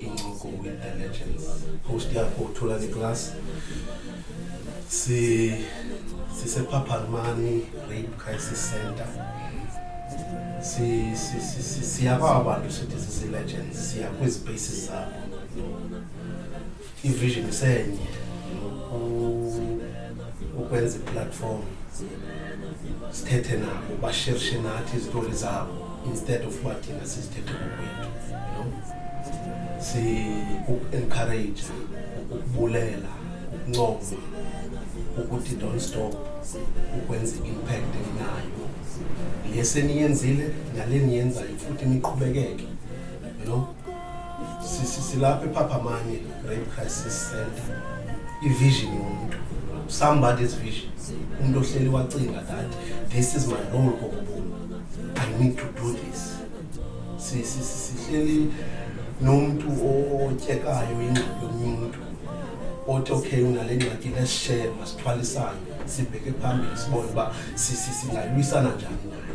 incoko with the legends host yakho uthulani class si sisephaphalmani rape crisis center siya kwaba bantu sithi sisi-legends siya kwezi bases zabo Ivision isenye ukwenza iplatform sithethe nabo bashirishe nathi izitori zabo instead of uba thina sizithethe ngokwethu si-encourage ukubulela ukuncoma ukuthi don't stop ukwenza i-impact enayo le seniyenzile nale niyenzayo futhi niqhubekeke you know silapha ephaphamanye rape crisis center ivision yomntu somebody's vision umntu ohleli wacinga that this is my role kokubomi i need to do this sihleli nomntu otyekayo ingxaki yomnye umntu othi okay unale ngxaki lesishere masithwalisane sibheke phambili sibone uba singalwisana njani nayo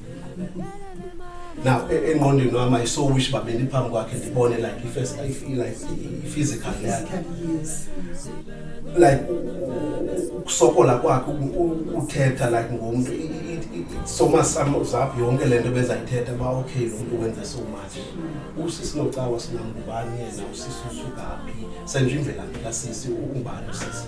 now e- engqondweni wam i so wish uba bendiphambi kwakhe ndibone like if as- if- like i- i-physical yakhe like u- u- ukusokola kwakhe u- u- uthetha like ngomntu i- i- i- i- so much some- zap yonke le nto bezayithetha uba okay lo mntu wenze so much usisi nocawa sinangubani yena usisi usukaphi senje imvelaphi kasisi ungubani usisi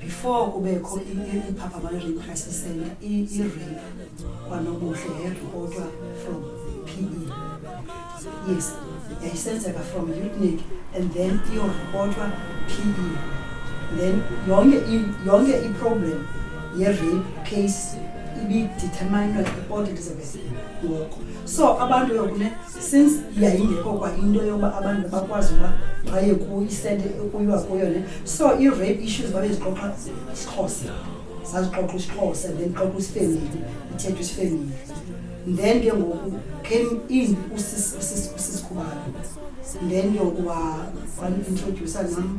before kubekho iphapha ama-rape crisis center i-rape kwanobuhle yayiripotwa from p e yes yayisenzeka from utnik and then iyoripotwa p e then yonke yonke iproblem ye-rape case ibideterminwa iport elizabeth ngoko so abantu yokune since yayingekho kwa into yoba abantu bakwazi uba baye kuyisente kuyilwa kuyo le so i-rape issues babezixoxa isixhosa sazixoxa isixhosa then xoxa isifemeli ithethwa isifemeli then ke ngoku came in usisikhubalo then yokuba wanintrodusa nam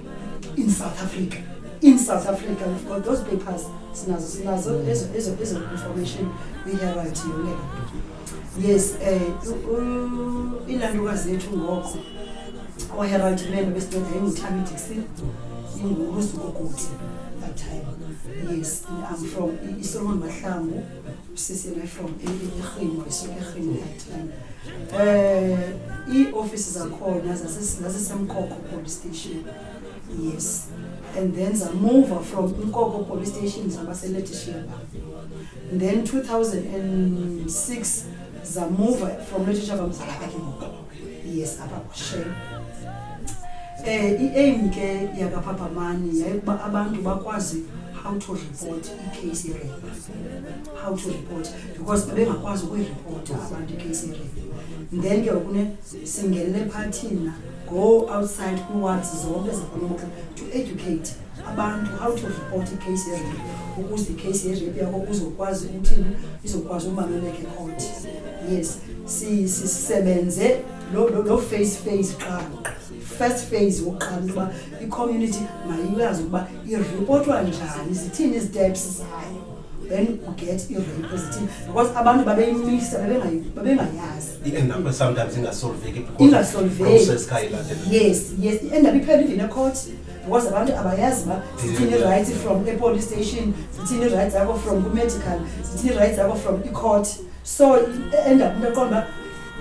in south africa in south africa we've got those papers sinazo sinazo ezo ezo ezo information we have at yonke yes um ilanduka zethu ngoko oherald man besindoda yayingutami dixon ingulusukokuthi that time yes i'm from isolomon mahlangu Sisi reform irhimo isuke irhimo yathini um iiofisi zakhona zasesemkoko police station yes and then zamuva from inkoko police station zabaseletisheba then 2006 zamuva from letishaba mzalapha ke ngoku yes apha kushem um eh, i-aim ke yakaphaphamaani yayikuba abantu bakwazi how to report icase rape how to report because babengakwazi ukuyiripota abantu icase rape then ke okune singenele phathina go outside kwiwards zonke zakwamotla to educate abantu how to report icase rape ukuze icase rape yakho uzokwazi ukuthini izokwazi umaluleke court yes sisebenze lo face face qala first phase wokuqala ukuba i-community mayiyazi ukuba iripotwa njani zithini izi-steps zayo then uget i-rape zithini because abantu babeyimisa babengayazi i-endaba sometimes ingasolveki ingasolvekiyes yes i-endaba iphela even ecourt because abantu abayazi uba zithini i-rights from epolice station zithini i-rights yakho from kumedical zithini i-rights yakho from icourt so enda kumntu eqonda uba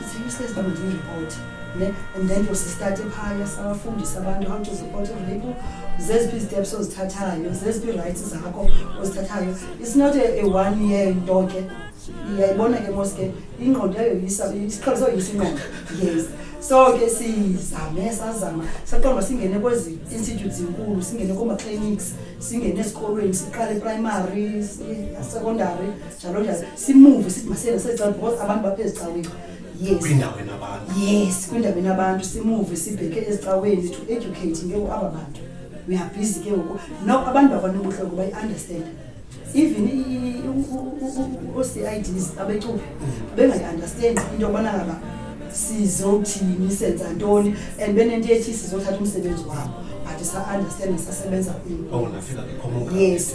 ziuseless uba ndiyiripoti ne and then yosistati phaya sawafundisa abantu how to report rape zeziphi iziteps ozithathayo zeziphi irights zakho ozithathayo it's not a, a one year nto ke iyayibona ke mos ke ingqondo yayo isiqhelo soyisa ingqondo yes so ke sizame sazama saqonda singene kwezi institute zinkulu singene kooma-clinics singene esikolweni siqale eprimary secondary njalo njalo simuve sithi masiyena sezicala because abantu baphe ezicaweni yes kwindawo enabantu yes kwindawo enabantu simuve sibheke ezicaweni to educate ke ngoku aba bantu we are busy ke ngoku no abantu bakwanobudloko bayi-understand even oo-cids abecuphi bengayi-understand into yokubana ngaba sizothini senza ntoni and benento ethi sizothatha umsebenzi wabo but sa-understand sasebenza kwini yes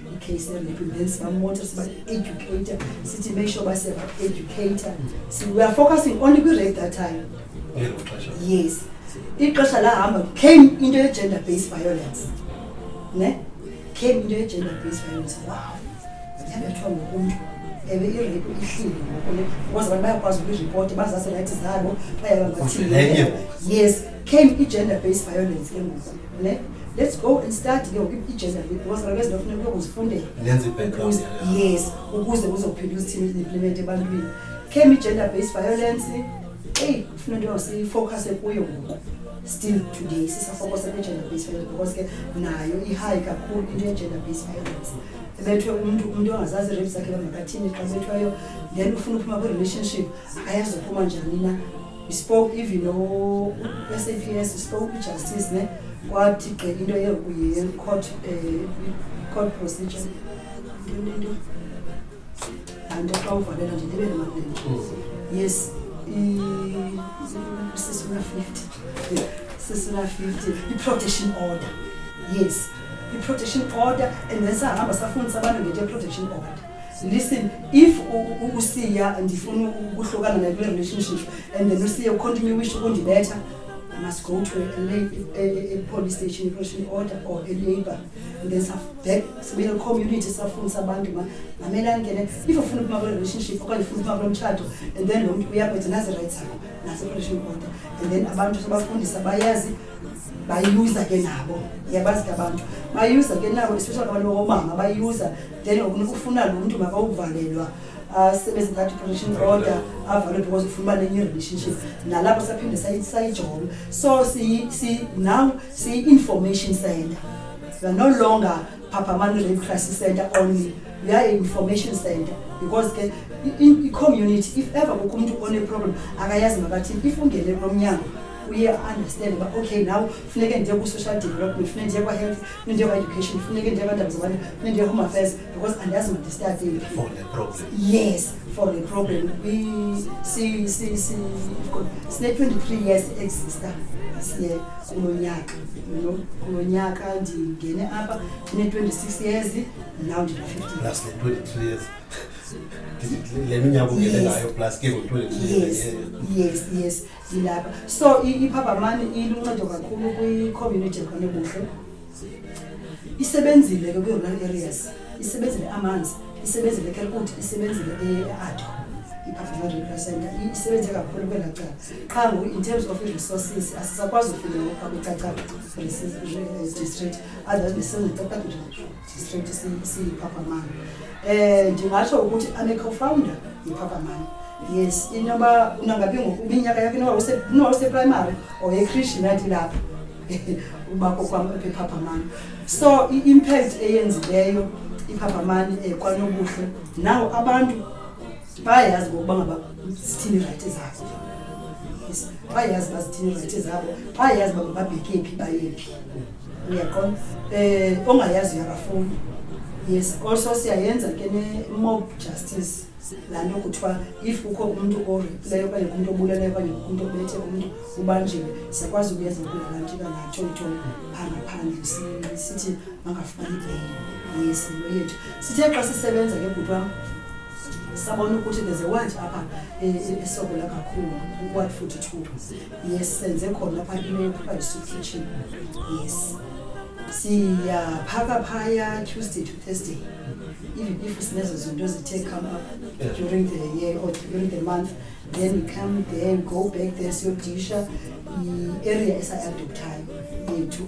case and prevent some motors but educator sithi make sure base ba educator so we are focusing only kwi rate that time yes ixesha lahamba came into ye gender based violence ne came into ye gender based violence wow yabethwa ngokuntu ewe irape ihlile ngokule because abantu bayakwazi ukuyiripoti bazase rayithi zabo bayababathile yes came i-gender based violence ke ngoku ne let's go and start ke ngoku ijezi because kaloku ezinto funeka uyokuzifundela nenze i-background Ukuze- yalapho. yes ukuze kuzophila usithini implement ebantwini came i-gender based violence eyi kufuna into siyifocuse kuyo ngoku still today sisafocuse kwi-gender based violence because ke nayo ihayi kakhulu into ye-gender based violence ebethwe umntu umntu ongazazi irip zakhe bamakathini xa bethweyo then ufuna uphuma kwi-relationship ayazi uphuma njani na We spoke even no SAPS, we spoke with justice, ne? Kwathi ke into ye kuye court eh court procedure. And xa uvalela nje ndibe nemali. Yes, i sisuna 50. Sisuna 50 i protection order. Yes, i protection order and then sahamba safundisa abantu ngento ye protection order. listen if usiya ndifuna ukuhlukana naye kule relationship and then usiye ucontinue wish ukundibetha must go to a, police station eprotion order or a labor and then back sibuyele community safundisa abantu ma mamela angene if ufuna ukuma kule relationship okanye ufuna ukuma kulo mtshato and then lo mntu uyakwetha nazi rights zakho naseprotion order and then abantu sebafundisa bayazi bayuza ke nabo yabazi ke abantu bayuza ke nabo especially abantu bakomama bayuza then okunika ufuna lo mntu makawuvalelwa asebenze that protection order avalwe because ufuna uba nenye relationship nalapho saphinde sayijonga so now siyi-information center we are no longer phaphamani rape crisis center only we are information center because ke i-community if ever kukho umntu oneproblem akayazi makathini if ungene kulomnyango uye understand uba okay now funeke ndiye kwi-social development funeke ndiye kwa-health Njengoba education funeke njengoba ndabazibona funeke njengoba home affairs because andazi madistabile for the problem yes for the problem si si si sine 23 years exista siye kulo nyaka kulo nyaka ndingene apha ndine 26 years now ndina 15 plus the 23 years le minyaka ungene ngayo plus ke ngo-23 yes yes zilapha so iphabhamani iluncedo kakhulu kwicommunity ekhona ebuhle isebenzile ke kwi-rural areas isebenzile amanzi isebenzile ekelkut isebenzile eado iphabhamani rural center isebenze kakhulu kwela cala qha ngoku in terms of i-resources asisakwazi ufika kwicacab district otherwise ndisenze cacab Straight si- siyiphaphamani um ndingatsho ukuthi ame co-founder yiphaphamani yes inoba unangabi ngoku iminyaka yakho inoba use- inoba useprimary or ekrishi nathi lapha uba kokwam apha ephaphamani so i-impact eyenzileyo iphaphamani um kwanobuhle nawo abantu bayayazi ngokuba ngaba zithini irayithi zabo Yes, bayayazi uba zithini irayithi zabo bayayazi uba mababheke phi bayephi uyaqonda eh ongayaziyo akafuni yes also siyayenza ke ne-mob justice laa nto kuthiwa if kukho umntu orepileyo okanye kumntu obuleleyo okanye kumntu obethe umntu ubanjiwe siyakwazi ukuyenza kulalantyo kangatsho nto angaphandle sithi makafumani ibheyile yesinto yethu sithe xa sisebenza ke bhuti wam sabona ukuthi there's a watch apha esokola kakhulu u-ward forty two yes senze khona phaa kwiparis kitchen yes siyaphaka phaya tuesday to thursday even if sinezo zinto zithe come up during the year or during the month then we come there and go back there siyodisha i-area esaadoptayo yethu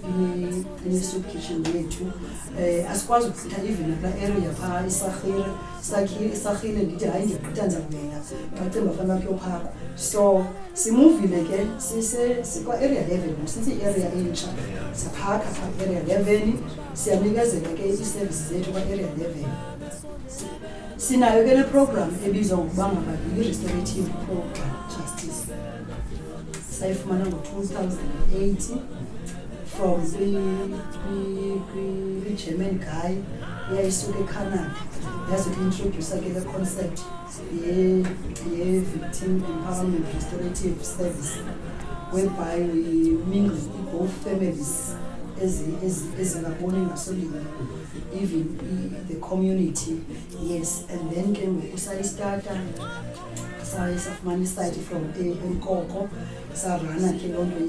inesoup kitchen yethu um asikwazi ukuchitha even kula area phaa isarhire sarhile ndithi hayi ndigqitha ndizakubeka ndacinga fana uba kuyophakwa so simuvile ke sikwa-area eleven since i-area entsha siphakha phaa area eleven siyanikezela ke ii-services zethu kwa-area eleven sinayo ke le program ebizwa ngokuba ngababili restorative program sayifumana ngo-2008 from kwi-german guy yayisuka ecanada yaze kuintroducer ke le concept ye-victim empowerment restorative service whereby we mingle both families ezingaboni ngasolinye even the community yes and then ke ngoku sayistata saye safumana isayidi from enkoko sarana ke loo nto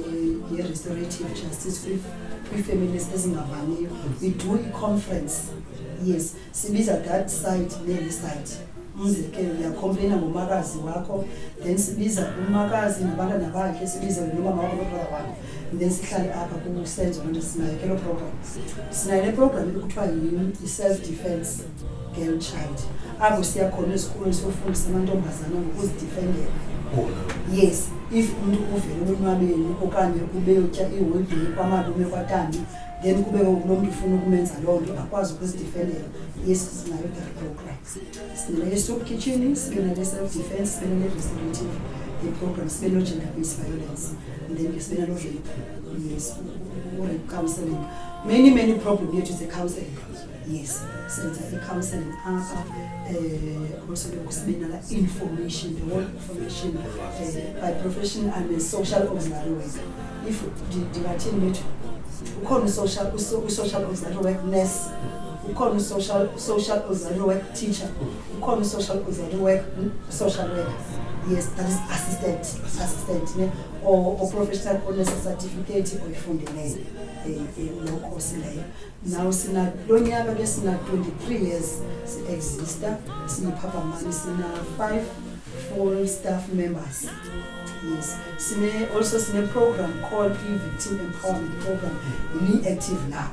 ye-restorative justice kwii-families ezingavaniyo we do i-conference yes sibiza that side neli side umzekelo uyakhompleyina ngomakazi wakho then sibiza umakazi nabantwana bakhe sibize nomama wakho nobrother wakho then sihlale apha kusenzo loo nto sinayo ke loo program sinayo le program ekuthiwa yi-self defense girl child apho siya khona esikolweni siyofundisa amantombazana ngokuzidifendela yes if umntu uvele ulonwabeni okanye ubeyotya iholidey kwamalume kwatanti then kube kulo mntu ufuna ukumenza loo nto akwazi ukuzidifendela yes sinayo that program sinele soup kitchen sibe nale self defense sibe nale restorative iprogram sibe no-gender based violence and then sibe nalo rape yes ure counseling many many problem yethu ze counseling yes senza i-counseling apha um also ke kusibinala information the whole information uh, by profession i'm a social auxiliary worker if ndingathini bethu ukhona usocial usocial auxiliary work nurse ukhona usocial social auxiliary work teacher ukhona usocial auxiliary work hmm, social worker yes that is assistant assistant ne or, or professional onesa certificate oyifundileyo um eh, eh, lokho sileyo Now sina lo nyaka ke sina 23 years si-exista siyiphaphamani sina five full staff members yes sine also sine-program called i-victim empowerment program ni-active now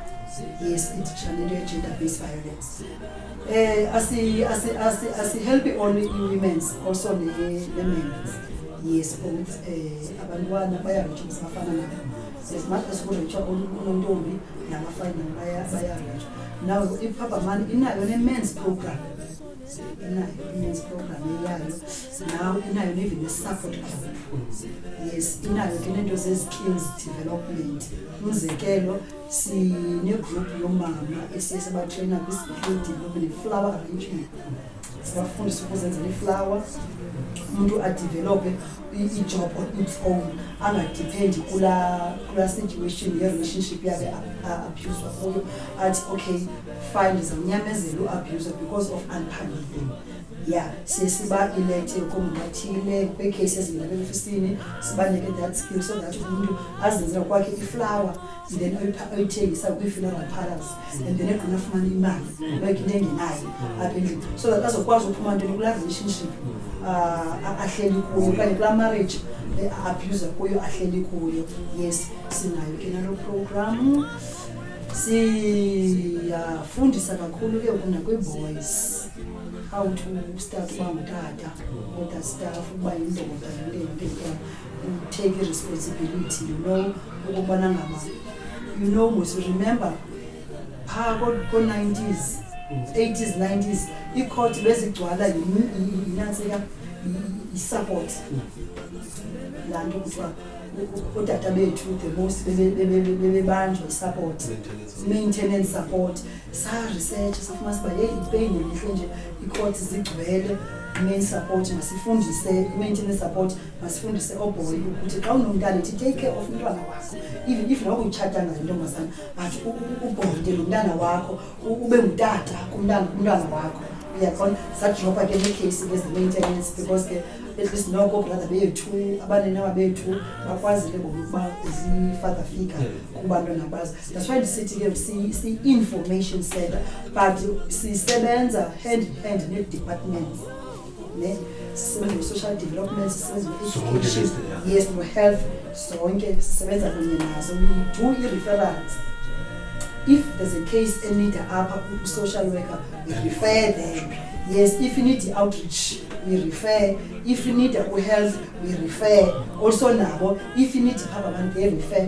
yes iditshanelo ye-gender based violence um asihelpi only i-womens also ne-men's yes both um abantwana bayaritsha basafana nabo as much as kuritsha onontombi namafinal bayabetha now iphaphamayo inayo ne-mans program inayo i-mans program eyayo now inayo nevin ne-support group yes inayo ke neento ze-skills development umzekelo sinegroup yomama esiye sabatreyina kwi-skill development flower arrangement sibafundisa ukuzenzela iflawa umuntu adevelophe ijob on its own angadipendi kulaa situation yerelationship yakhe abuswa kuyo athi okay fine ndizawunyamezela uabuse because of unpaniling ya siye sibailete komngathile kwiikheyisi ezingabeofisini sibanike that skill so that umntu azenzela kwakhe iflawa then oyithengisa kwi-funeral parlors and then egqina afumana imali bayigina engenayo apha endlini so that azokwazi uphuma ntoni kulaa relationship uh, ahleli kuyo okanye kulaa marriage eh, abuse kuyo ahleli kuyo yes sinayo ke nalo programu siyafundisa kakhulu ke ukuna kwi-boys how to start uba ngutata other staff uba yindoda nentententana take iresponsibility you know ukubona ngaba you know mos remember phaa ko-nineties eighties nineties iikhothi bezigcwala yinantsika yisupport laa nto kuthiwa udata bethu the most bebebanjwa isupport maintenance support saresearch safuma siba yeyi ipeyini elihle nje iikhothi zigcwele main support masifundise i-maintenance support masifundise oobhoyi ukuthi xa unomntana ithi take care of umntwana wakho even if noba utshatanga nentombazana but ubhonde lo mntana wakho ube ngutata kumntwana wakho uyabona zadropha ke neekheyisi ke ze-maintenance because ke at least noko brother bethu abaninawa bethu bakwazi ke ngokuba zi-father figure kubantwana bazo that's why ndisithi ke si-information center but sisebenza hand in hand nee-departments ne sisebenza kwi-social development sisebenza kwi-education yes no-health zonke sisebenza kunye nazo we do i-referrals if there's a case enida apha kwi-social worker we refer them yes if you need i-outreach we refer if you need u-health we refer also nabo if you need phaba abantu they refer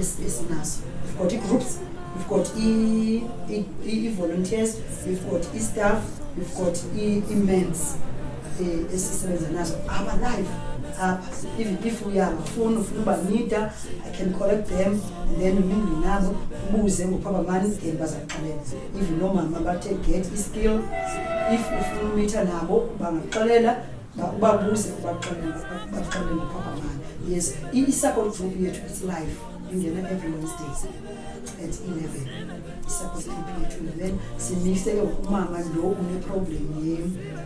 esinaso we've got ii-groups we've got ii-volunteers we've got i-staff we've got ii-mens um esisebenza nazo abalive apha even if uyabafuna ufuna ubanida i can correct them and then uminde nabo ubuze ngophabamani then bazakuxelela even noomama bathe get i-skill if ufuna umitha nabo bangaxelela babuze ubaxelela baxelela papa mani yes i-support group yethu its life ingena every wednesdays at eleven i-support group yethu and then simihle ke umama lo uneproblem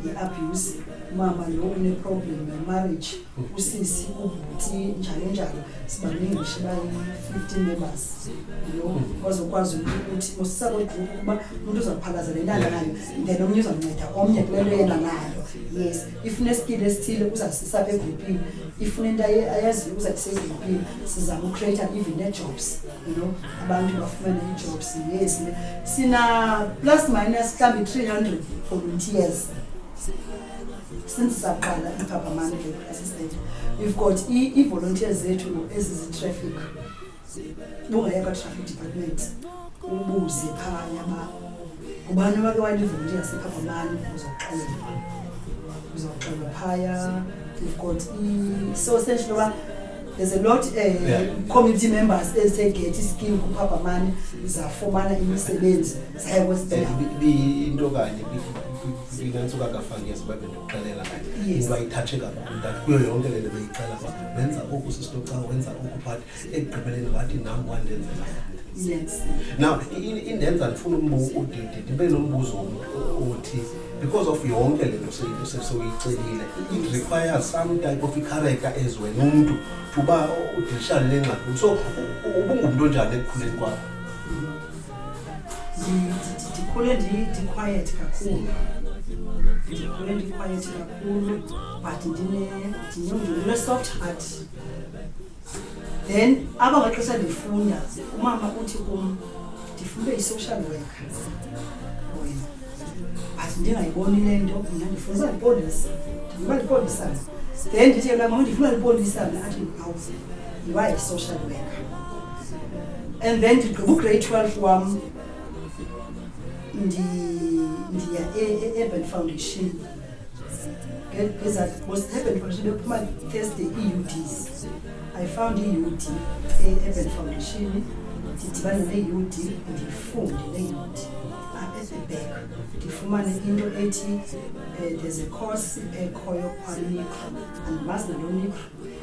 ye-abuse umama lo uneproblem yemarriage usisi ubhuti njalo njalo sibaningi ngisho bayi-fifteen members lo bazokwazi ukuthi usi-support group ukuba umuntu uzakuphalazela intanga nayo then omnye uzamnceda omnye kule nto yena nayo yes ifuna esikile esithile uzasisa apha egruphini ifuna into ayaziyo uzasisa egruphini sizama ucreata even nee-jobs you know abantu bafumane ii-jobs yes sina plus minus mhlawumbi three hundred volunteers since saqala iphaphamane le assistant we've got ii-volunteers zethu ezizi-traffic bungaya kwa-traffic department ubuze phaya ba ngubani owake walivoluntiya sipha kwamani uzoxelwa uzoxelwa phaya we've got so essential uba there's a lot uh, yeah. community members ezithe gethi iskim kuphaphamane zafumana imisebenzi zaye kwezinto kanye kuyinantsuka kafakezi babendoda xelela iye uba ithatshe kakhulu that kuyo yonke le nto beyicela uba wenza oku sistoxa wenza oku but ekugqibeleni wathi nam wandenzela now indenza ndifuna udidi ndibe nombuzo othi because of yonke le nto soyicelile it requires some type of icharacter as wena umntu tuba udilishane le ngxaki so ubungumntu onjani ekukhuleni kwakho ndikhule ndiquiet kakhulu ndikhule ndiquiet kakhulu but ndine-soft heart then aba maxesha ndifunda umama uthi kum ndifunde i-social worker wena but ndingayiboni le nto mna ndifundisa lipolisa ndiba lipolisana then ndithi yena mama ndifuna lipolisana athi awuze ndiba yi-social worker and then ndigqiba ugrade 12 wam ndiya e-urban e-, foundation ngezaurban foundation bephuma thursday ii-uds i found i-ud e-urban foundation ndidibane ne-ud ndifunde ne-ud back ndifumane into ethi um there's a course ekhoyo kwanicro andimazi nalo nicro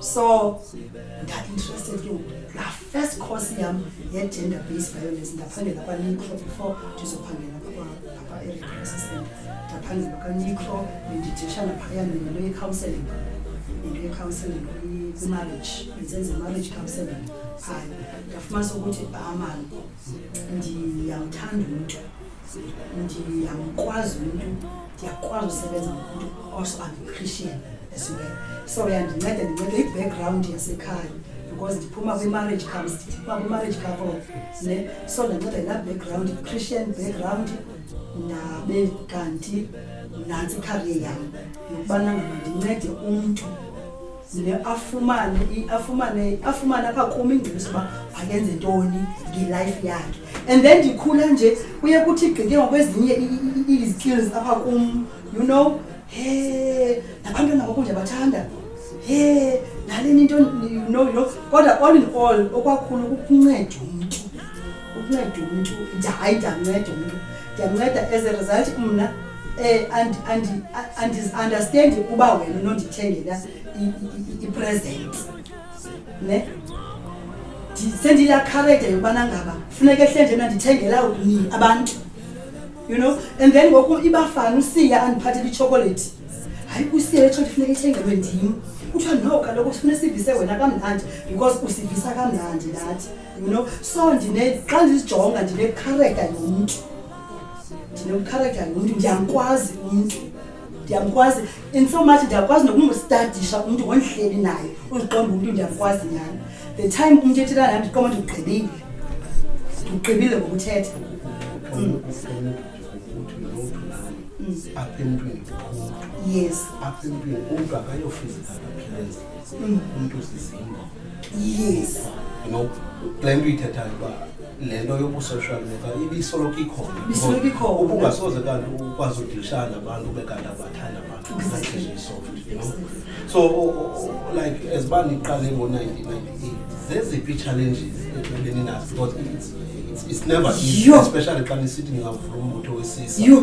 so ndainterested ke la first course yam ye-gender based violence ndaphangela kwanicro before ndizophangela apa-ereassistant ndaphangela kwanicro bendidishana phaya nento ye-counseling into ye-counseling kwimarriage ndisenze marriage counseling phaya ndafumanisa ukuthi amani ah, ndiyamthanda umntu ndiyamkwazi umntu ndiyakwazi usebenza ngomntu also am christian as well so yandinceda ndinceda i-background yasekhaya because ndiphuma kwi-marriage comes ndiphuma kwi-marriage couple ne so ndanceda yilaa background christian background nabe kanti nantsi ikhariye yam yokubana ngaba ndincede umntu ze afumane i- afumane afumane apha kum ingcebiso uba makenze ntoni ngelife yakhe and then ndikhula nje kuye kuthi gqike ngokwezinye i- i- i- izikills apha kum you know he nabantwana ngoku ndiyabathanda he naleni into you know you know kodwa all in all okwakhulu kukunceda umntu ukunceda umntu hayi ndiyanceda umntu ndiyanceda as a result mna um andiunderstandi uba wena nondithengela ipresent ne sendiyakhareja yokubana ngaba funeka ehlenje mna ndithengela ni abantu you know and then ngoku ibafana usiya andiphathela itshokolethi hayi kusiya etsho ndifuneka ithengelwe ndim kuthiwa no kaloku sifuna sivise wena kamnandi because usivisa kamnandi nathi you know so ndine xa ndizijonga ndinekhareka yomntu ndinemkhareka yomntu ndiyamkwazi umntu ndiyamkwazi in so much ndiyakwazi nokumstadisha umntu ngondihleli naye uziqomba umntu ndiyamkwazi nyhani the time umntu ethetha nam ndiqoma ndikugqibile ndikugqibile ngokuthetha mm. apha emntwini yes apha emntwini umntu akayofizikala appearance umntu sizingo yes no le nto uyithethayo uba le nto yobu-social media ibisoloko ikhona Ibisoloko ikhona. ubungasoze kanti ukwazi udilishana nabantu ube kanti abathanda abantu Exactly. That's soft, you know? so o- o- o- like as uba niqale ngo-1998 zeziphi ii-challenges ebeninazo because it's, it's, it's never easy Yho. especially xa nisithi ningavula umbutho wesisa Yho.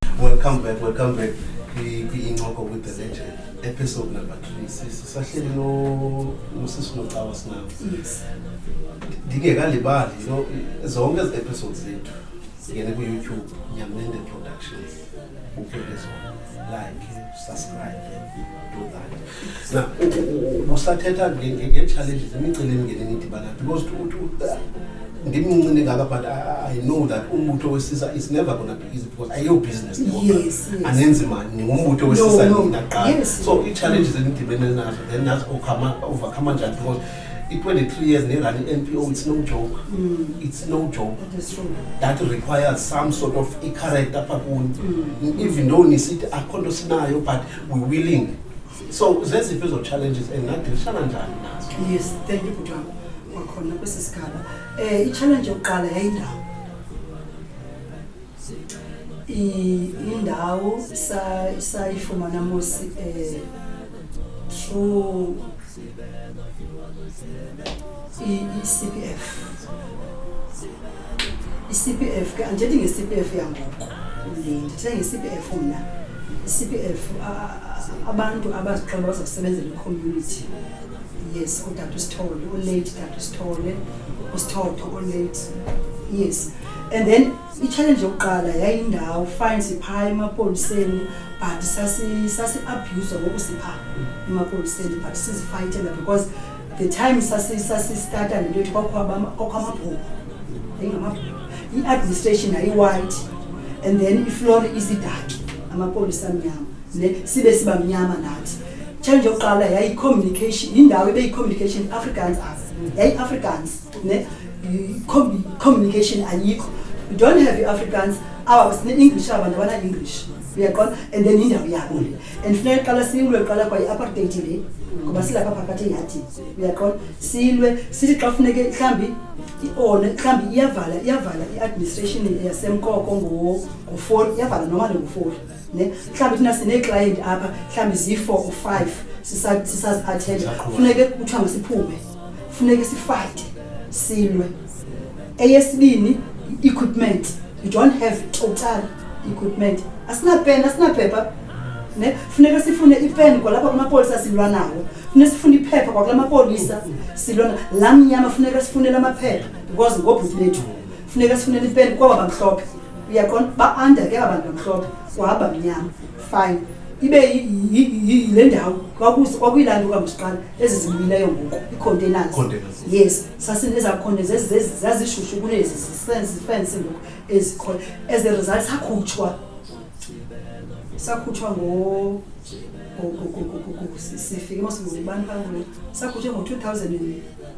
Welcome back, welcome back kwi-incoko with the legend episode number three sisahleli nosisi nocawa sinabo ndingekalibali you know zonke ezi episodes zethu zingene kuyoutube nyamende productions uphele zona like usathetha ngee-challenges imicelimngeni enidibana because ndimncini ngaka but i know that umbutho wesisa is never gonna be easy because ayiyo business yes, anenzi mani ndingumbutho wesisa nina qala so ii-challenges enidibene nazo then nazi overcome njani because i-23 years nerunning NPO it's no joke mm. it's no joke that requires some sort of i-character apha kuni mm. even though nisithi akho nto sinayo but we willing so zeziphi ezo challenges and nadilishana njani nazo yes thank you bhuti wam kwakhona kwesi sigaba um eh, i-challenge yokuqala yayindawo indawo sayifumana sa mosi eh, through i-cpf i-cpf ke andithethi nge-cpf yangoku ndithetha nge-cpf mna i-cpf abantu abazixola bazokusebenzela icommunity yes udade usithole ulate dade usithole usithotho ulate yes and then itshalenje yokuqala yayindawo fine siphaa emapoliseni but sasi-abhuzwa ngoku siphaa emapoliseni but sizifayitela because the time sasistata nento yothi kwakho amabhuku yayingamabhuku i-administration yayi-white and then iflori izidaki amapolisa amnyama ne sibe siba mnyama nathi change yokuqala yayi-communication yindawo ebeyi-communication africans as yayi-africans ne communication ayikho you don't have i-africans awa sine-english aba bantu abana-english uyaqona and then yindawo yabo le and funeka qala silwe qala kwa i-apartheid le ngoba silapha phakathi ngathi uyaqona silwe sithi xa funeke mhlawumbi ione mhlawumbi iyavala iyavala i-administration yasemkoko ngofoli iyavala noma le ngofoli ne mhlawumbi thina sineeklayenti apha mhlawumbi ziyi-four or five sisaziathenda funeke kuthiwa masiphume funeke sifayite silwe eyesibini i-equipment you don't have total equipment asinapeni asinaphepha ne funeka sifune ipeni kwalapha kumapolisa silwa nawo funeka sifune iphepha kwakula mapolisa silwa la mnyama funeka sifunele amaphepha because ngobhuti bethu funeka sifunele ipeni kwaba bamhlophe uyaqonda ba-anda ke aba bantu bamhlophe kwaba mnyama fine ibe le ndawo kwakuyilando kamusiqala ezi zibuyileyo ngoku icontainers yes sasinezakhona zazishushu kunezi zifensi ngoku ezikhona as a result sakhutshwa sakhutshwa ngo sifike mosibani bangule sakhutshwe ngo-two thousand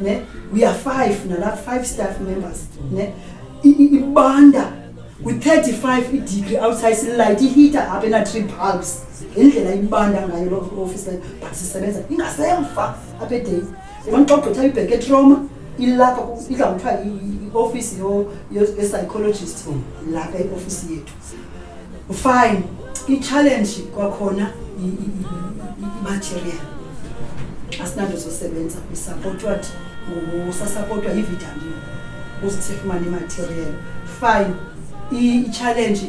ne we are five nala five staff members ne ibanda kwi-35 idegree outside sililayite iheater apha ena-three bulbs indlela ibanda ngayo loo office leyo but sisebenza ingasemva apha edayi yibona xa ugqitha ibheke etroma ilapha idla kuthiwa i-ofisi ye-psychologist lapha iofisi yethu fine i-challenge kwakhona i-material asinanto zosebenza isapotwa ngusasapotwa yivitamini ukuze sifumane imaterial fine i-challenge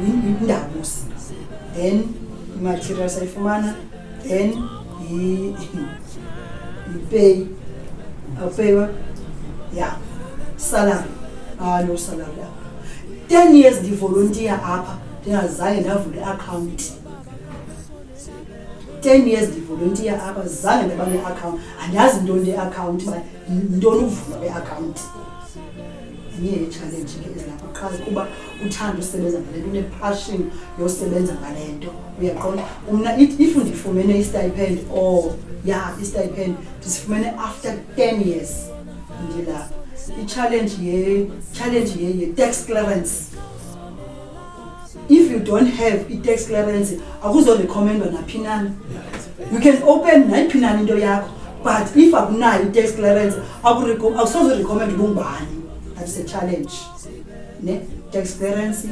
yindabusi then imaterial sayifumana then E, e pay. A pay what? Yeah. Salary. Ah, no salary. Yeah. 10 years ndivolontiya apha ndingazange ndavula iakhawunti 10 years ndivolontiya apha zange ndaba neakhawunti andazi ntoni leakhawunti ntoni ukuvula kweakhawunti zinye yeetshalenji ngendlela lapha qha kuba uthanda usebenza ngale nto unepassion yosebenza ngale nto uyaqonda mna if ndifumene istipend or oh, ya istipend ndisifumene after ten years ndilapha itshalenji ye-tax clearance if you don't have i-tax clearance akuzoricommendwa naphi nani you can open nayiphi nani into yakho but if akunayo i-tax clearance awusozorecommend ubungubani that is a challenge ne tax clearance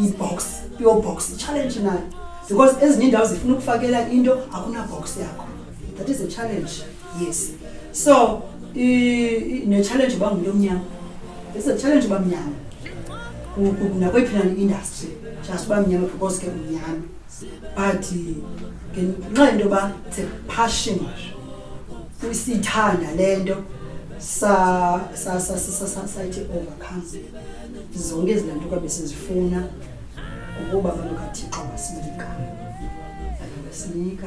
i-box pure box i-challenge nayo because ezinye iindawo zifuna ukufakela into akunabox yakho that is a challenge yes so ne-challenge uba ngumntu omnyama is a challenge uba mnyama nakweyiphi nani industry just uba mnyama because ke umnyama but ngenxa yento yoba it's a passion siyithanda le nto sayithi overcome zonke ezi lanto kwabe sizifuna ngokuba abantu kathixo basinika basinika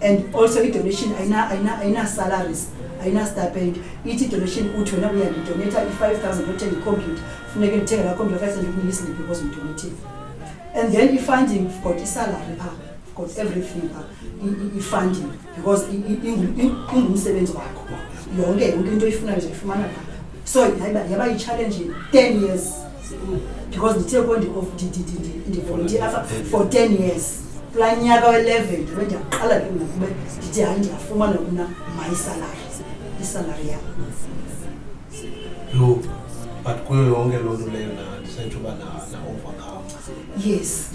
and also i-donation ayina-salaries ayina-stipend ithi i-donation uthi wena uyandidonetha i-five thousand othenga ikhompyutha funeke ndithenge laa khompyutha five thousand ukunike isiliphi because ndidonethile and then i-funding got isalary phaa got everything phaa i-funding because ingumsebenzi wakho yonke yonke into oyifunayo uzayifumana phaa so yaba yi-challenge ten years because ndithe ko ndivolunteer apha for ten years kulaa nyaka we-eleven ndibe ndiyaqala ke mna kube ndithi hayi ndiyafumana mna mayisalari isalari yam yho but kuyo yonke loo nto leyo ndisentsho uba na-overcome yes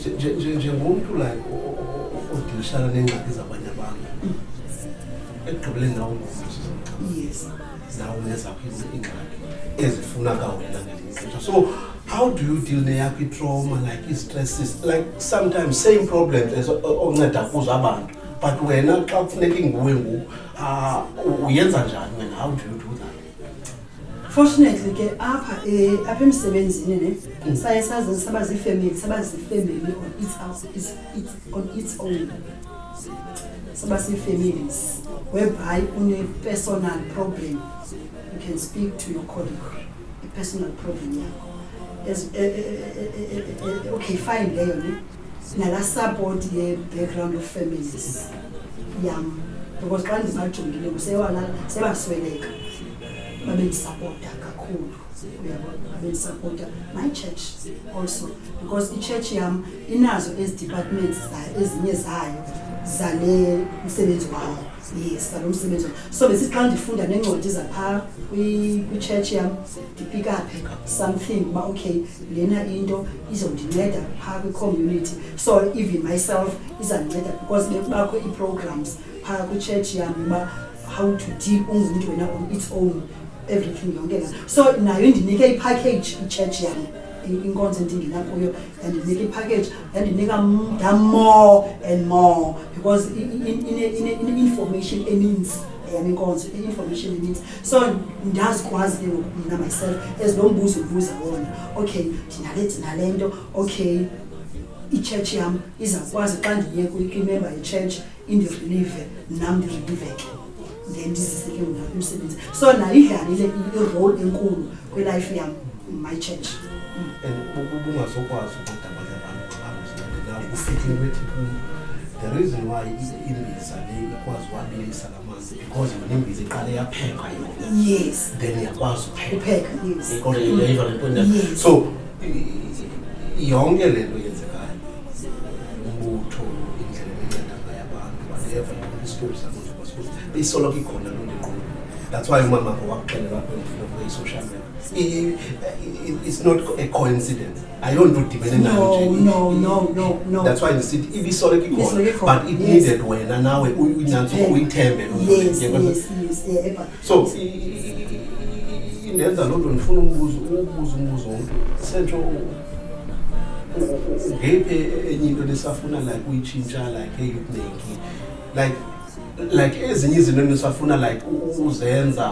njengomntu like odilishana neengxaki zabanye abantu mm. ekugqibeleni nawo ngomntu yes zawo nezakho iingxaki ezifuna kawena ngelinye so how do you deal neyakho itrauma like i-stresses like sometimes same problems as onceda kuzo abantu but wena xa kufuneka inguwe ngoku ah, uyenza njani wena how do you do that fortunately ke apha eh, apha emsebenzini ne mm. saye sazenza saba zifamily saba zifamily or it's house it's, it's on its own soba sii-families whereby une-personal problem you can speak to your colleague i-personal problem yakho e, e, e, okay fine leyo ne nala support ye-background of families yam because xa ndibajongile sebasweleka babendisapota kakhulu bendisapota my church also because itshetshe yam inazo ezi departments ezinye zayo zale msebenzi wawo yes zalo msebenzi wawo so besithi xa ndifunda neencwadi zaphaa kwitshetshe yam ndipikaphe something uba okay lena into izondinceda phaa kwicommunity so even myself izandinceda because bekubakho ii-programs phaa kwitshetshe yam uba how to deal ungumntu wena on its own everything yonke la so nayo indinike ipackage ichurch yam inkonzo endingena kuyo yandinika ipackage yandinika mda more and more because ine-information eninzi yam inkonzo i-information eninzi so ndazikwazi ke ngoku mna myself as lo mbuzo ubuza wona okay ndinale ndinale nto okay ichurch yam izakwazi xa ndiye kwimemba yechurch indizilive nam ndiziliveke then ndizise ke mna umsebenzi so nayo idlalile irole enkulu kwilife yam my church bungazokwazi ukudabanya abantu abazilalenayo ufithi wethi kum the reason why imbiza le ikwazi uwabilisa la because yona imbiza iqale yaphekwa yona yes then iyakwazi upheka yes kodwa yile iva le nto so yonke le nto yenzekayo umbutho indlela enceda ngayo abantu whatever isitori sakuthi kwasikuthi beyisoloko ikhona loo nto iqulu that's why umama wakho wakuxelela kwendifuna kube yi-social media it's not a coincidence ayonto udibene nayo nje no no no no that's why ndisithi ibisoloko ikhona but it needed wena nawe unyanzi eh, uyithembe eh, so indenza loo nto ndifuna umbuzo ubuza umbuzo womntu sentsho ngeyiphi enye into lesafuna like uyitshintsha like eyukunengi like like ezinye izinto nisafuna like uzenza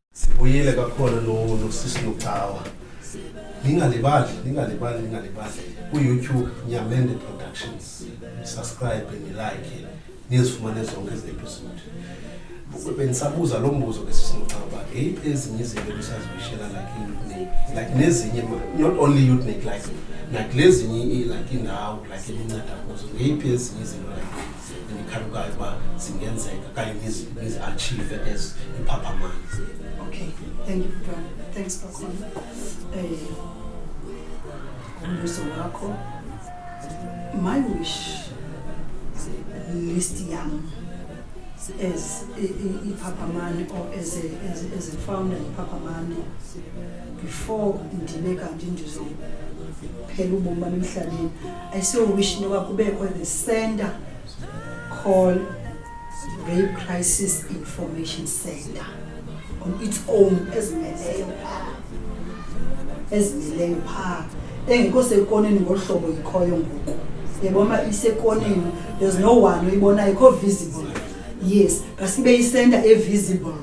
Sibuyile kakhulu nosisi Lucawa. Ningalibali, ningalibali, ningalibali. Ku-YouTube Nyamende Productions. Subscribe and like. Nizifumane zonke ezi episode. bendisabuza loo mbuzo ke sisinoxaba ngeyiphi ezinye izinto ebisazibishela like iutnik like nezinye not only utnik like like lezinye like indawo like elinceda kuzo ngeyiphi ezinye izinto like zikhalukayo uba zingenzeka kanye nizi-achieve as imphaphamayo okay thank you butwana thanks kakhulu um umbuzo wakho my wish list yam as iphaphamayo or as a, as, as a founder iphaphamayo before ndibe kanti ndizophela ubomi bam emhlabeni I still wish noba kubekho the center call rape crisis information center on its own ezimeleyo phaa ezimeleyo phaa engekho sekoneni ngolu hlobo ikhoyo ngoku yeboma isekoneni there's no one oyibonayo ikho visible yes kasibe isenta evisible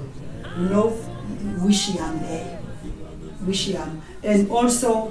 you know wish yam leyo wish yam and also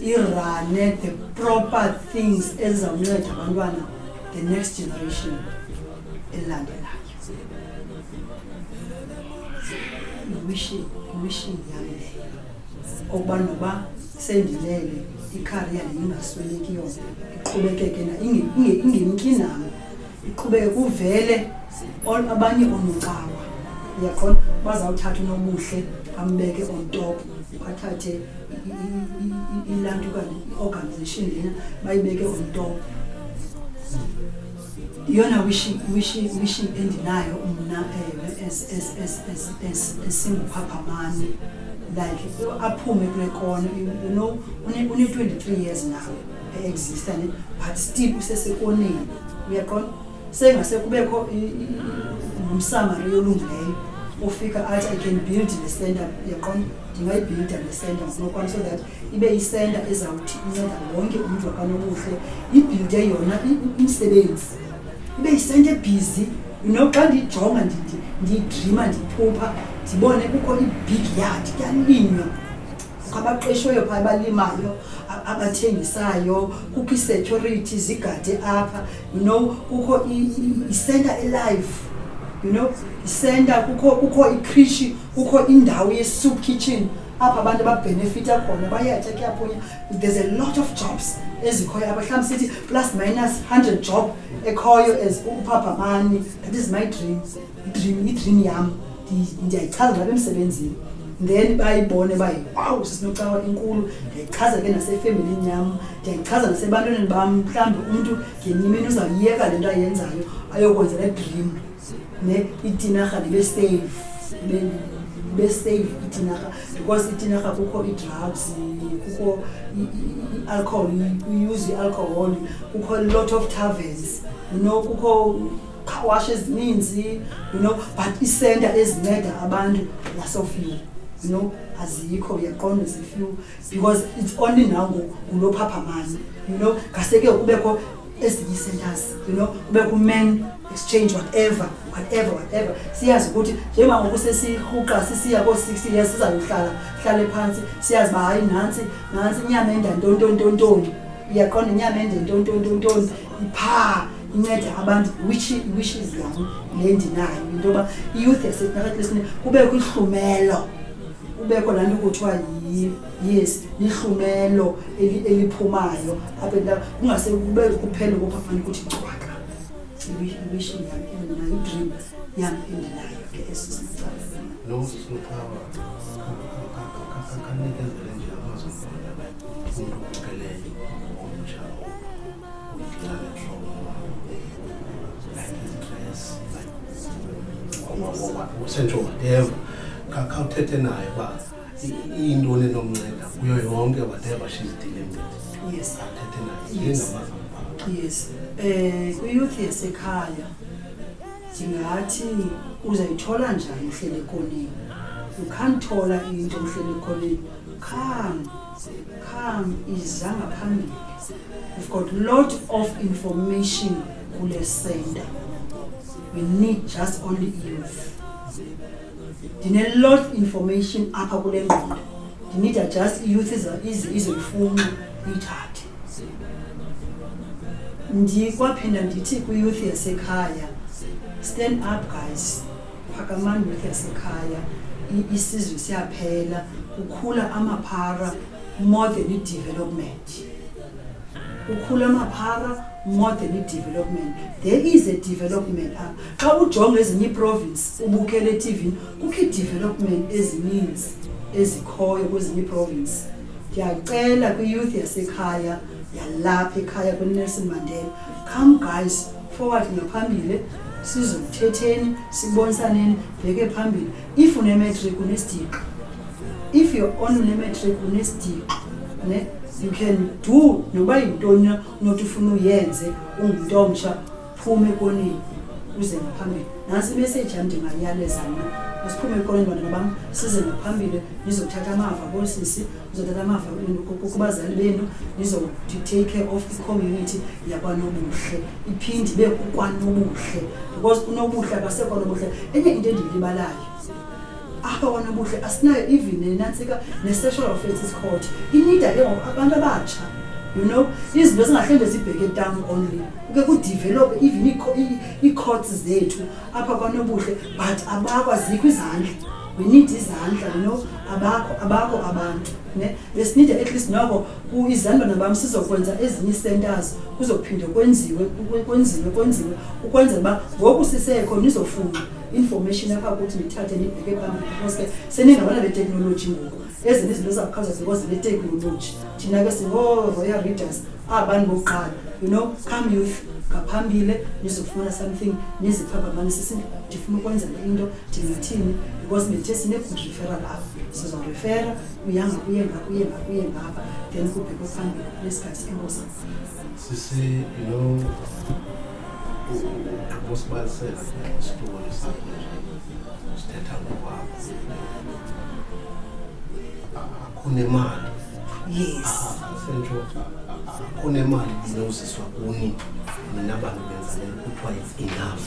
irane the proper things ezizawunceda abantwana the next generation elandelayo wishing wishing yam leyo okuba noba sendilele ikhariya ndiyingasweleki yona iqhubekeke na ingemki nam iqhubeke kuvele abanye onocawa uyaqonda bazawuthatha unobuhle ambeke on top bathathe ilantu okanye i-organization lena bayibeke on top iyona wishi endinayo mna esinguphaphamazi like aphume kule kona you know une-twenty-three years now exista ne but still usesekoneni uyaqonda sengase kubekho nomsamari yolungileyo ofika athi i can build le center uyaqonda ndingayibhilda le center ngokunokwam so that ibe yicenter ezawuthi inceda wonke umntu wakanobuhle ibhilde yona umsebenzi ibe yicenter ebhizi you know xa ndiyijonga ndiyidrima ndiphupha ndibone kukho ibig yard kuyalinywa abaqeshiweyo phaa abalimayo abathengisayo kukho isecurity zigade apha you know kukho isenta elive you know isenta kukho kukho ikrishi kukho indawo ye-soup kitchen apha abantu babhenefitha khona bayatya kuyapunya there's a lot of jobs ezikhoyo apha mhlawumbi sithi plus minus hundred job ekhoyo as uphabhamani that is my dream idream idream yam ndiyayichaza ndilapha emsebenzini then bayibone uba wawu sisinocawa inkulu ndiyayichaza ke nasefemelini yam ndiyayichaza nasebantwaneni bam mhlawumbi umntu ngenye imini uzawuyeka le nto ayenzayo ayokwenza le dream ne itinarha ndibe safe ndibe safe itinarha because itinarha kukho ii-drugs kukho i-alcohol uyuze i-alcohol kukho a lot of taverns you know kukho carwash ezininzi you know but iisenta ezinceda abantu nasofiwe you know azikho uyaqonda zifiwe because it's only now ngoku ngulophaphamani you know ngaseke kubekho ezinye ii-centers you know kubekho uman exchange whatever whatever whatever siyazi ukuthi njengoba ngoku sesirhuqa sisiya koo-six years sizayohlala hlale phantsi siyazi uba hayi nantsi nantsi inyama endantontontontoni uyaqonda inyama endentontontontoni iphaa inceda abantu which which is yam le ndinayo into yoba iyouth yasetinakatlisini kubekho ihlumelo kubekho laa nto kuthiwa yes lihlumelo eliphumayo apha entaba kungase kube kuphele kophafana ukuthi cwaka iwishi yam endinayo idream yam endinayo ke eso sicalaelosusuqhawa kanikezele nje amazwi omntu ukeleyo omtsha usentshoba ndeva khawuthethe naye uba iyintoni enomnceda kuyo yonke whatever she's dealing with yes athethe naye ngengamazi yes um kwiyouth yasekhaya ndingathi uzayithola njani uhlele ekoneni ukhanthola into uhlele ekoneni kham kham iza ngaphambili We've got lot of information kule center. We need just only youth. Ndine lot information apha kule ngqondo. Ndinida just youth izoyifuna ithathe. Ndikwaphinda ndithi kwi-youth yasekhaya, stand up guys, phakamani youth yasekhaya, isizwe siyaphela, kukhula amaphara more than i-development. ukhula amaphara more than idevelopment there is a development up xa ujonga ezinye iiprovince ubukele etivini kukho iidevelopment ezininzi ezikhoyo kwezinye iiprovince ndiyacela kwiyouth yasekhaya yalapha ekhaya kwinelson mandela come guys forward ngaphambili sizokuthetheni sibonisaneni bheke phambili if unematric unesitiqo if you're on unematric unesitiqo ne you can do noba yintoni na unothi ufuna uyenze ungumntu omtsha phume ekoneni uze ngaphambili nantsi imeseji yam ndingayaleza mna masiphume ekoneni bantwana bam size ngaphambili ndizothatha amava koosisi ndizothatha amava kubazali benu ndizotake care of icommunity yakwanobuhle iphinde ibe kukwanobuhle because unobuhle abasekho nobuhle enye into endiyilibalayo apha kwanobuhle asinayo even nenantsika ne-sexual offences court inida ke ngoku abantu abatsha you know izinto zingahlende zibheke down only ke kudevelophe even ii-courts zethu apha kwanobuhle but abakwazikho izandla we need izandla you know abakho abakho abantu ne besinide at least noko izandlwana bam sizokwenza ezinye ii-centers kuzophinde kwenziwe kwenziwe kwenziwe ukwenzela uba ngoku sisekho nizofuna information apha kuthi ndithathe ndibheke phambili because ke seningabana beteknoloji ngoku ezinye izinto ezakhaza ziko zineteknoloji thina ke singoo-royal readers abani bokuqala you know come youth ngaphambile nizofumana something niziphapamanise si ndifuna ukwenza le into ndingathini because ndithe sine-good referral apho sizorefera uyanga kuye ngakuye ngakuye ngapha then kubhekwe phambili nesikhathi enkosi sisi you know usibalisela isitulo sakho sithetha ngokwabo akhona imali yes sentsho akhona imali inoziswa kuni nina bantu benza le kuthiwa it's enough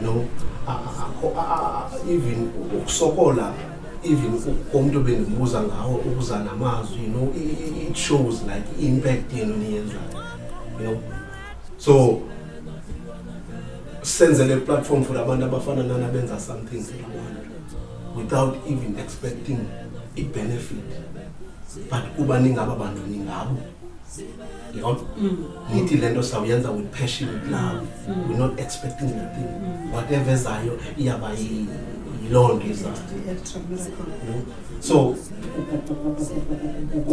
no even ukusokola even komuntu bendibuza ngawo ukuza namazwi you know it shows like impact yenu niyenzayo you know so senzele iplatform for abantu abafana nana benza something without even expecting i-benefit but kuba ningaba bantu ningabo yona mm. nithi le nto sawuyenza with passion with love mm. we're not expecting nothing mm. whatever ezayo iyaba yiloo nto izayo so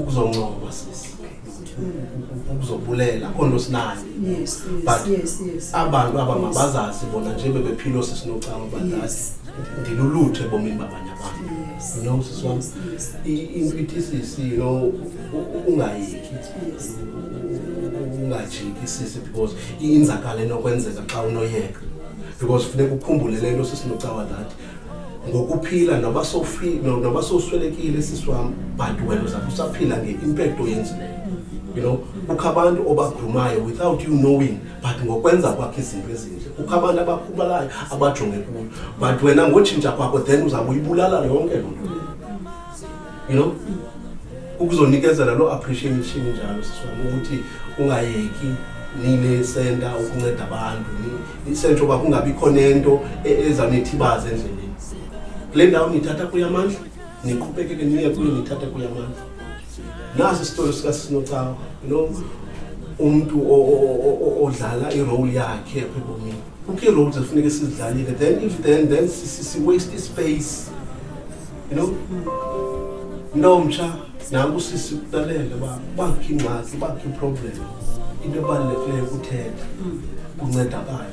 kuzoncoba sisi uzobulela akho nto sinayo but abantu aba mabazazi bona nje bebephilo sisinocawa badlali ndilulutho ebomini babanye abantu you know sisi wam into ithi sisi you know ungayeki ungajiki sisi because inzakala enokwenzeka xa unoyeka because funeka ukhumbule le nto sisinocawa that ngokuphila noba sowuswelekile sisi wam but wena uzapha usaphila nge-impekto oyenzileyo you know kukho abantu obagrumayo without you knowing but ngokwenza kwakho izinto ezintle kukho abantu abakhubalayo abajonge kuyo but wena ngotshintsha kwakho then uzawuyibulala yonke loo nto you know ukuzonikezela loo appreciation njalo siswami ukuthi ungayeki nile senta ukunceda abantu isentsho uba kungabikho nento e, ezanithibaza endleleni kule ndawo nithatha kuyo amandla niqhubekeke niye kuyo nithatha kuyo amandla nasi isitori sikasinocawa you know umntu odlala irole yakhe apha ebomini kukho ii-roles ekufuneka sizidlalile then if then then siwaste ispace you know ntomtsha nanku sisi kutalele uba ubakho ingxaki ubakho iproblem into ebalulekileyo kuthetha kuncedakala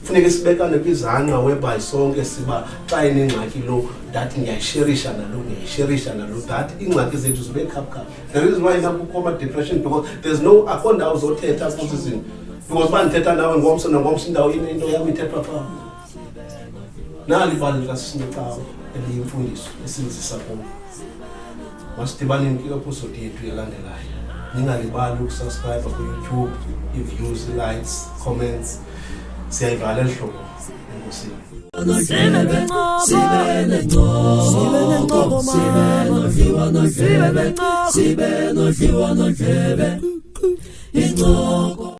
funeke sibekane kwizangqa whereby sonke siba xa inengxaki lo that ndiyayisherisha nalo ndiyayisherisha nalo that iingxaki zethu zibe khaphukhaphu the reason why nakukho ama-depression because there's no akho ndawo zothetha kuzi zinto because uba ndithetha nawe ngomso nangomso indawo into yam ithethwa phaa nali ibali likasisinecawa eliyimfundiso esinzisa kum masidibaneni kwiepusodi yethu elandelayo ningalibali ukusubscribe kuyoutube iviews likes comments siyayivala eli hlobo enkosini sibe nodliwa nodlebe incoko